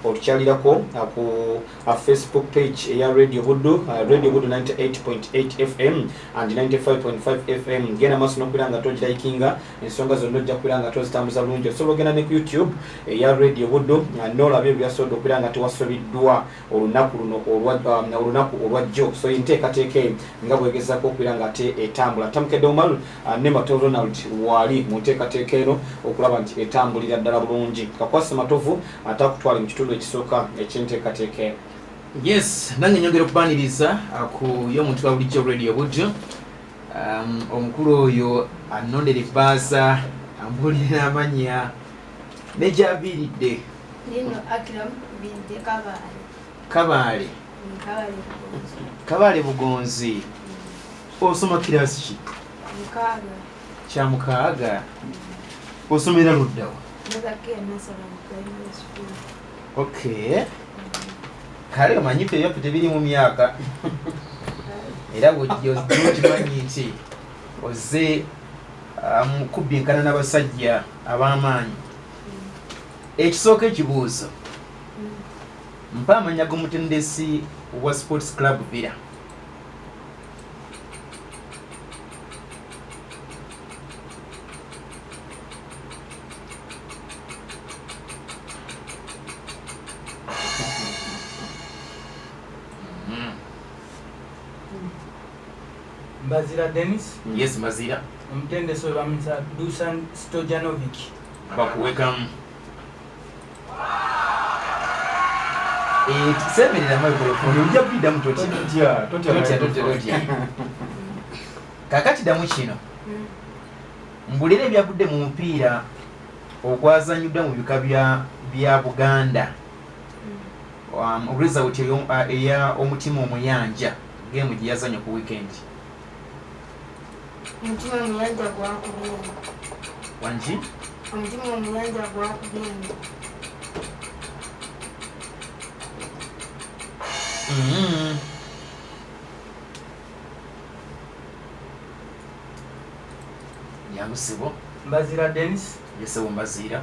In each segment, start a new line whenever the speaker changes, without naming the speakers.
otukyalirako uh, ku uh, facebook page eya radio buddu uh, radio buddu 98.8 fm and 95.5 fm genda maaso nokubeera nga togirayikinga ensonga zonna ojja kubeera nga tozitambuza bulungi osobola ogenda ne ku youtube eya radio buddu nolaba ebyo byasobodde okubeera nga tewasobiddwa olunaku luno um, olunaku olwajjo so enteekateeka eyo nga bwegezako okubeera nga ate etambula tamukedde omalu Ah, ne matovu ronald waali mu nteekateeka eno okulaba nti etambulira ddala bulungi kakwasa matovu ate akutwale mu kitundu ekisooka ekyenteekateeka eno yes
nange nyongera okubaniriza ah, ku yo omuntu wa bulijjo radio budjo um, omukulu oyo anondera ebbaaza ambuulira amanya negyaviiridde
kabaale
kabaale bugonzi osoma kiraasi ki
kyamukaaga
osomera luddawa
ok
kale omanyi ffe ebyaffe tebiri mu myaka era bwojjokimanyi nti oze um, kubbinkana n'abasajja ab'amaanyi ekisooka ekibuuzo mpa amanya g'omutendesi wa sports club villa
Bazira Dennis. Yes, Bazira.
Omutendesi webamuyita
Dusan Stojanovic. Bakuwekamu.
Eh, semerera microphone ojja kuidamu kakati damu kino mbulira ebyavudde mu mupiira ogwazanyuddwa mu bika bya buganda um, result eya omutima omuyanja gemu gyeyazanya ku weekend
Omutima omuyanja gwakubye eno.
Wangi? Omutima
omuyanja gwakubye eno. Mm-hmm.
Nyamusibo. Mbazira
Dennis. Yese wumbaziira.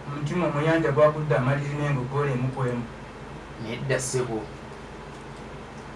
Omutima
omuyanja gwakudde amaliri n'engo ggola emukwemu. Nedda
ssebo.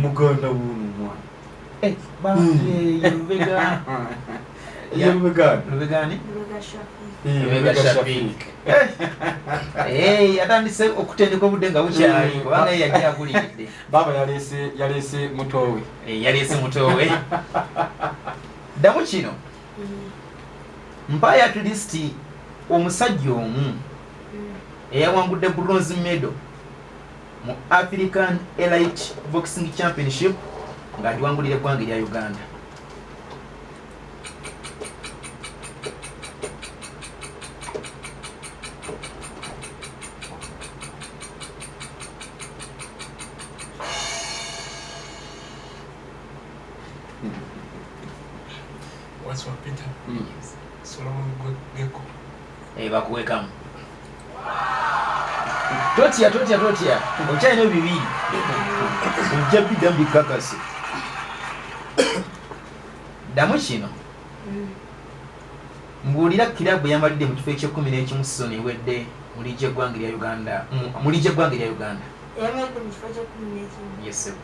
muganda wuno
omwana eh, atandise okutendeka obudde nga bukyali mm. kubanga yeyali aguliridde baaba yaleese
mutowe eh, yaleese mutowe
ddamu kino mm. mpaayo at least omusajja omu mm. eyawangudde bronze medo mu African Elite Boxing Championship nga ndiwangulira eggwanga erya Uganda.
eh, bakuwekamu
totya totya totya okyalina bibiri ojja bidda mubikakasi ddamu kino mbuulira kirabu yamalidde mu kifo ekyekumi n'ekimu sizoni ewedde mu liigi eggwanga erya uganda mu liigi eggwanga erya uganda
yamalidde mu kifo ekyekumi n'ekimu yesebo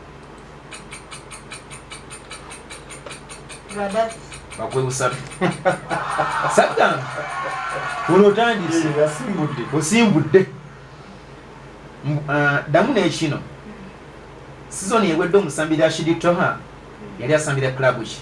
bakwebusatu
saddam ono otandise osimbudde ah, ddamu nekino sizoni ewedde omusambi rashidi toha yali asambira club ki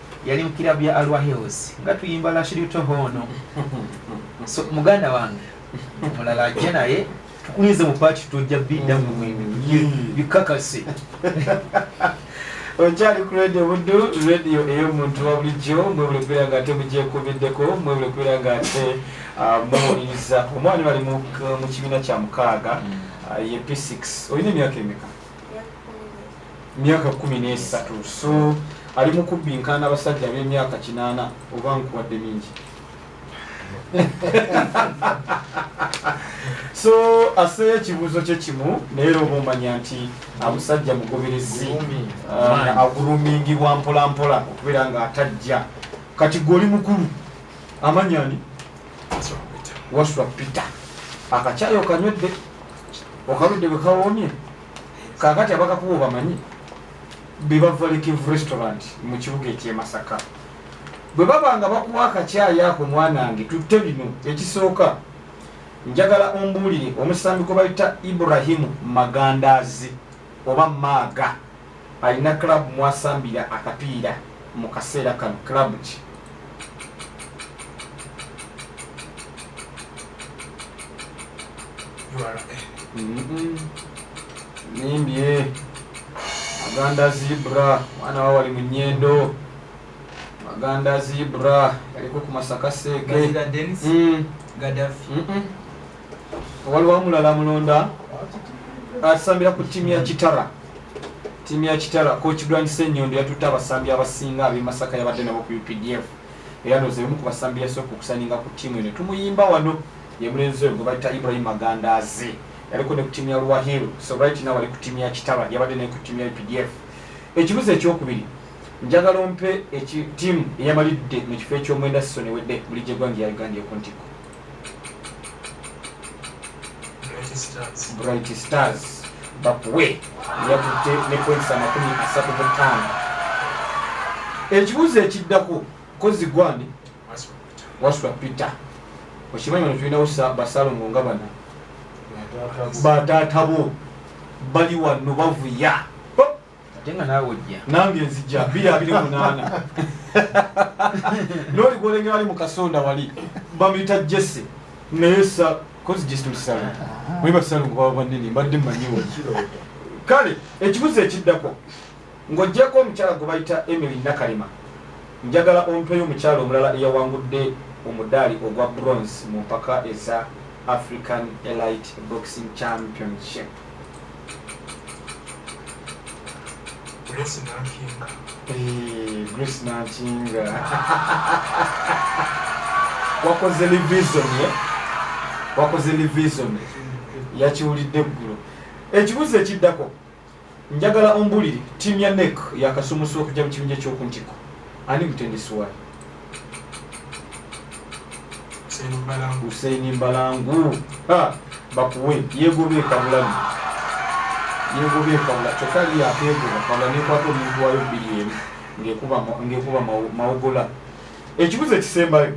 yali mukirabu ya alwa hills nga tuyimba lashiritoho ono so muganda wange mulala ajja naye tukulinze mu paati tojja bidda mu mwembi mm. bikakase
okyali ku radio buddu radio ey'omuntu wa bulijjo mwebule kubeera nga ate mugyekubiddeko mwebule kubeera nga ate ah, muwuliriza omwana bali mu kibiina kya mukaaga mm. ah, ye p6 olina emyaka emeka myaka kumi n'esatu so ali mu kubbinkaana abasajja ab'emyaka kinaana oba nkuwadde mingi so aseeyo ekibuuzo kye kimu naye era oba omanya nti amusajja ah, mugoberezi ah, agulumingibwa mpolampola okubeera nga atajja kati gwe oli mukulu amanya ni waswa peter akakyayo okanywedde okaludde bwe kawomye kakati abakakuba obamanyi bebavalekeve restaurant mu kibuga ekyemasaka bwe baba nga bakuwa akakyayi ako mwanange tutte bino ekisooka njagala ombuulire omusambi gwe bayita iburahimu magandaazi oba maaga Alina club mwasambira akapiira mukaseera kano club ki? Nimbye Maganda Zebra mwana wa wali munyendo Maganda Zebra yaliko ku Masaka Seege Gaddafi waliwo omulala mulonda asambira ku ttiimu ya kitara ttiimu ya kitara coach grand senyondo yatutte abasambi abasinga ab'emasaka yabadde nabo ku updf era nozeemu ku basambi yasooka okusaninga ku ttiimu eno tumuyimba wano ye mulenzi oyo gwe bayita ibrahim magandaaze yaliko ne ku ttiimu ya luwahiru so right now ali ku ttiimu ya kitara yabadde naye ku ttiimu ya updf ekibuzo ekyokubiri njagala ompe ttiimu eyamalidde mu kifo eky'omwenda sisonewedde buli gyegwange ya uganda ekuntikko bright stars bakuwe yatutte ne points amakumi asatu mu ttaano ekibuuzo ekiddako kozi gwani wasula peter okimanyi bano tulinawo basalongo nga bana bataata bo bali wano bavuya ate
nga naawe ojja nange nzija biri
abiri munaana nooli gwolengera ali mu kasonda wali bamuyita jesse naye sa kozi jesse lusalu mwe basalu nga baba banene mbadde mmanyiwo kale ekibuzo ekiddako ng'ogyeko omukyala gwe bayita emily nakalema njagala ompeyo omukyala omulala eyawangudde omudaali ogwa bronze mu mpaka eza african elite boxing championship Grace Nankinga. Hey, Grace Nankinga. wakoze revision ye eh? wakoze revision yakiwulidde eggulo ekibuzo ekiddako njagala ombulire tiimu ya nek yakasumusa okujja mu kibinja ekyokuntiko ani mutendesi wayo Hussein Mbalangu bakuwe yegobe kabulani yegobe kabula kyokka ye akeegoba kabula nekwata omuntu wayo bbiri emu ng'ekuba mawogola ekibuzo ekisembayo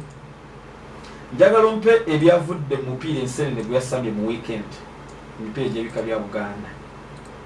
njagala ompe ebyavudde mu mupiira ensenene gwe yasambye mu wiikendi emipiira egy'ebika bya buganda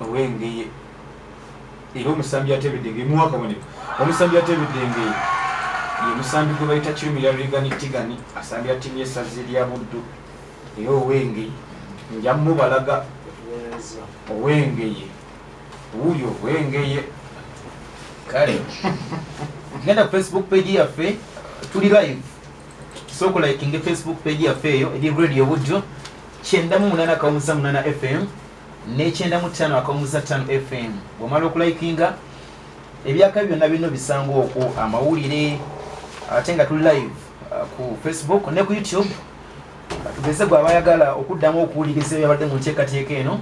owengeye era omusambi atebedenge muwa akabonero omusambi atebedengeye ye musambi gwe bayita kirumira rigani tigani asambira ttiimu y'essazi lya buddu era owengeye nja mubalaga owengeye wuuyo owengeye
kale genda ku facebook page yaffe tuli live sooka olayikinge facebook page yaffe eyo eri radio budyo kyenda mu munana akawumuza munana fm nekyenda mu ttaano akawumuza ttaano fm bwomala okulayikinga ebyaka byonna birina obisanga okwo amawulire ate nga tuli live uh, ku facebook ne ku youtube tugeze gwe abayagala okuddamu okuwuliriza ebyabadde mu nteekateeka eno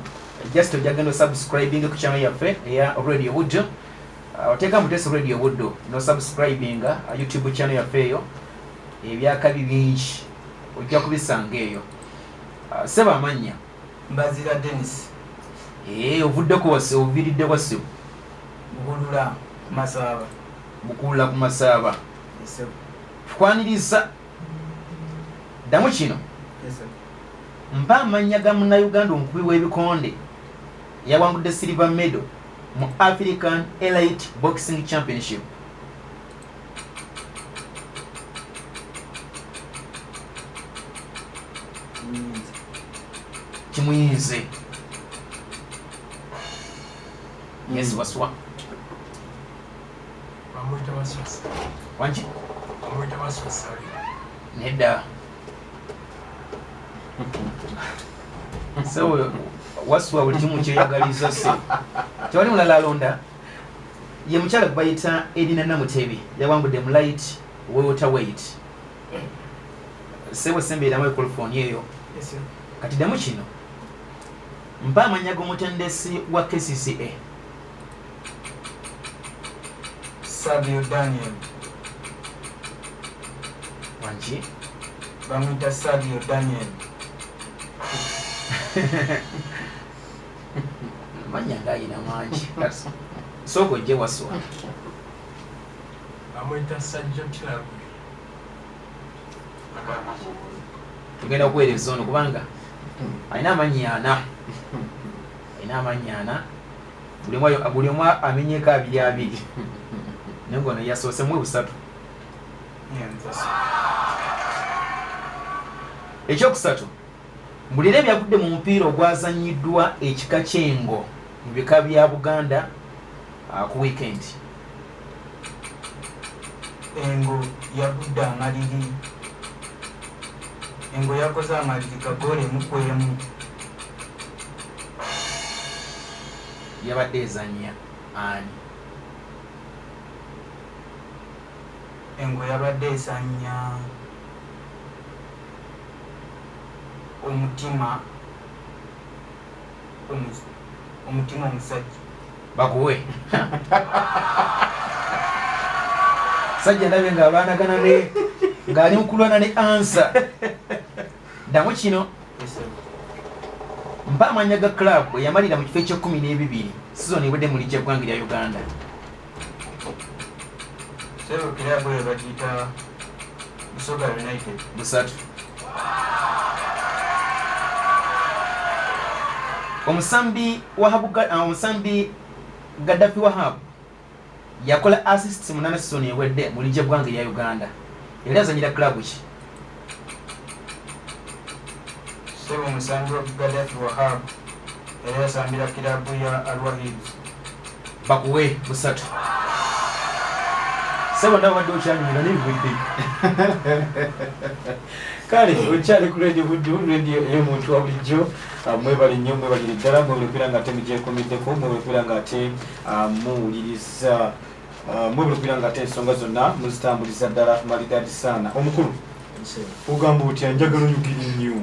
just ojagenda osubscribing ku channel yaffe eya radio budyo Oteeka Mutesi Radio Buddo no subscribinga uh, YouTube channel yaffe eyo ebyakabi bingi ojja kubisanga eyo uh, seba amannya Mbazira
Dennis ee eh,
ovuddeko wase oviridde wasibu Bukulula
Masaaba Bukulula
ku Masaaba Tukwaniriza ddamu kino mpa amannya ga munnayuganda omukubi w'ebikonde yawangudde silver medo mu african elite boxing championship kimuyinze yes waswa
nedda
sewe wasuwa buli kimu kyeyagaliza se tewali mulala alonda ye mukyala gwebayita erina namutebi yawangudde mu light wewota wait sewe sembeeramu ekolofoni eyo kati damu kino mpa amanya gomutendesi wa kcca
Savio Daniel
waki bamwita
Savio Daniel
manya ngayina mangi sooka ojje waswa
bamwita Sajjo Club
tugenda kuweereza ono kubanga alina amanyi ana ina amannya ana buli omu amenyeko abiri abiri naye ngono yasoose mwe busatu ekyokusatu mbulira ebyagudde mu mupiira ogwazanyiddwa ekika kyengo mu bika bya buganda uh, ku wiikendi
Engo yagudde amaliri Engo yakoze amaliri ga ggoolo emu ku emu.
Yabadde ezannya ani?
Engo yabadde ezannya Omutima Omutima omusajja.
bakuwe sajja ndabye nga abaanagana ne ng'ali mukulwana ne ansa ddamu kino mpa amanya ga club eyamalira mu kifo ekyekumi n'ebibiri sizon ebadde mu lijja ggwanga lya uganda
sebo club eyo bagiyita Busoga United. Busatu.
Omusambi Wahabu uh, omusambi Gaddafi Wahabu yakola assists mu nana season ewedde mu ligye bwange ya Uganda. Yali azanyira club ki?
Sebo omusambi Gaddafi Wahabu era yasambira club ya Al Wahid. bakuwe
busatu sebo nawe wadde okyanyumira naye bwedde
kale okyali ku radio buddu radio eyomuntu wa bulijjo ah, mwebale nnyo mwebalire ddala mwebale kubeera nga ate mugyekomeddeko mwebale kubeera nga ate ah, muwuliriza ah, mwebale kubeera nga ate ensonga zonna muzitambuliza ddala malidaadi saana omukulu ogamba otya njagala oyogere nnyo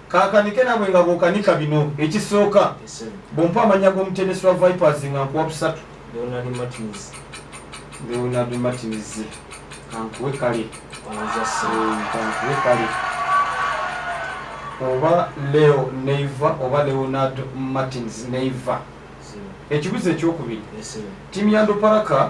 Kakanike nabwe nga bwokanika bino ekisooka bwompa amanya g'omutendesi wa Vipers nga nkuwa busatu. Leonard Martins. Leonard Martins. Kankuwe kale. Kankuwe kale. Oba Leo Neiva oba Leonard Martins Neiva. Ekibuzo ekyokubiri. Timu ya Ndoparaka.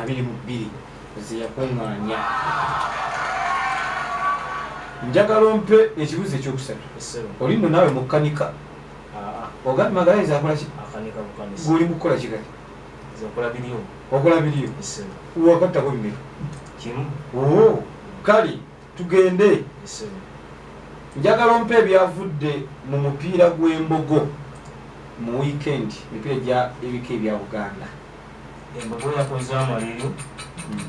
abiri mu bbiri
zeyakuŋŋaanya njagala ompe ekibuzo ekyokusatu oli no naawe mukanika ah, ah. ogandi magalazi akolaki guli
mukukola kigali okola biriyo
wakattako
bimeka
kale Tugende.
Njagala
ompe ebyavudde mu mupiira gw'embogo mu wiikendi, emipiira gya ebika ebya Buganda. Embogo
yakoze amaliri hmm.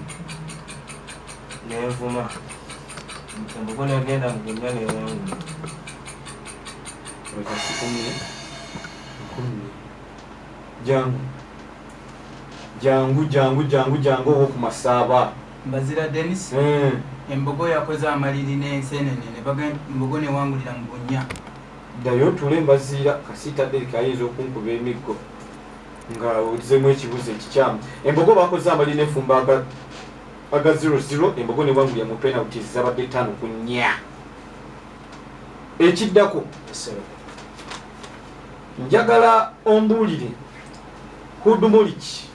n'envuma. Embogo n'egenda mu bunnya n'ewangula. Olwekasikumire nkumye jangu jangu jangu jangu jangu owo ku masaaba Mbazira Denis,
Embogo yakoze amaliri n'enseenene ne bagamba Embogo n'ewangulira mu bunnya. Ddayo otuule
Mbaziira, Kasiita Derrick ayinza okunkuba emiggo nga ozzemu ekibuuzo ekikyamu. Embogo baakoze amaliri n'efumba aga aga zero zero, Embogo n'ewangulira mu penaliti ezabadde ttaano ku nnya. Ekiddako njagala ombuulire Hudumoriki.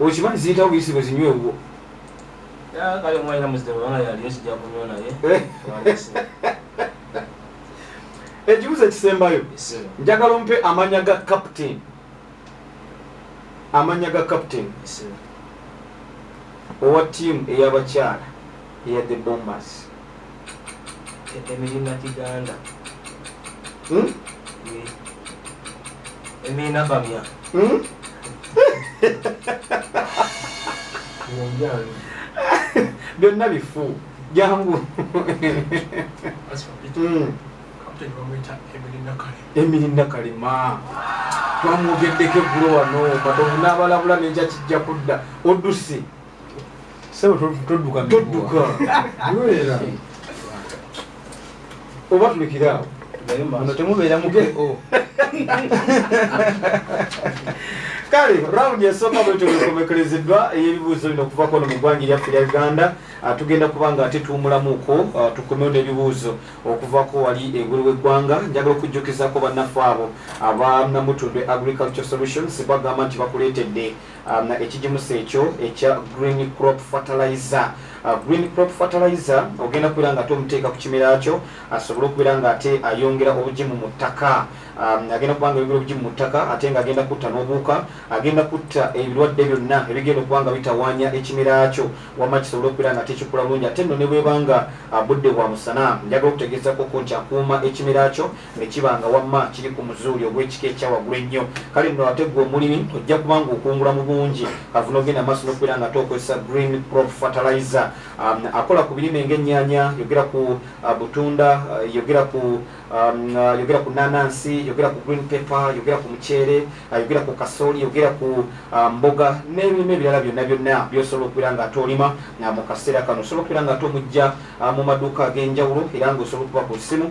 Okimanyi ziyitawo
buyisigo zinywe wuwo.
Kale omwalina muzita bwanga yali esijja kunywa naye.
Ekibuzo ekisembayo njagala ompe amanya ga captain. Amanya ga captain. Owa team eyabakyala eya the bombers.
emirina kiganda hmm? emirina bamya
hmm? byonna bifu jangu hmm.
emirina
kalema twamwogeddeko eggulo wano matovu n'abalabula nekya kijja kudda oduse sebo todduka todduka era oba tulekiraawo ono temubeera
mu ko
kale rawundi esooka bwetyo bwekomekerezeddwa ey'ebibuuzo bino okuva kono mu ggwanga eryaffe lya uganda ah, tugenda kuba nga ate tuwumulamuuko ah, tukomewo n'ebibuuzo okuvako wali engulu w'eggwanga njagala okujjukizako bannaffe abo abanamutundwe agriculture solutions bagamba nti bakuleetedde um, ekigimusa ekyo ekya green crop fertilizer uh, green crop fertilizer ogenda kubeera nga ate omuteeka ku kimera kyo asobole okubeera nga ate ayongera obugimu mu ttaka um, agenda kuba nga ayongera obugimu mu ttaka ate nga agenda kutta n'obuuka agenda kutta ebirwadde byonna ebigenda okuba nga bitawaanya ekimera kyo wamma kisobole okubeera nga tekikula bulungi ate nno ne bweba nga uh, budde bwa musana njagala okutegeezakoko nti akuuma ekimera kyo ne kiba nga wamma kiri ku muzuuli ogw'ekika ekya waggulu ennyo kale nno ate gwe omulimi ojja kuba nga okungula mu bungi kava n'ogenda maaso n'okubeera nga ate okozesa green prop fertilizer um, akola ku birime ng'ennyanya yogera ku uh, butunda uh, yogera ku Um, uh, yogera ku nanansi yogera ku green paper yogera ku muceere uh, yogera ku kasooli yogera ku uh, mboga n'ebirime ebirala byonna byonna byosobola okubeera nga ate olima mu kaseera kano osobola okubeera nga ate omujja mu maduuka ag'enjawulo era nga osobola okuba ku ssimu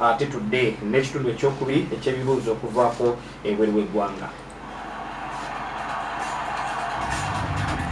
Ate tudde n'ekitundu ekyokubiri eky'ebibuuzo okuvaako ebweru w'eggwanga.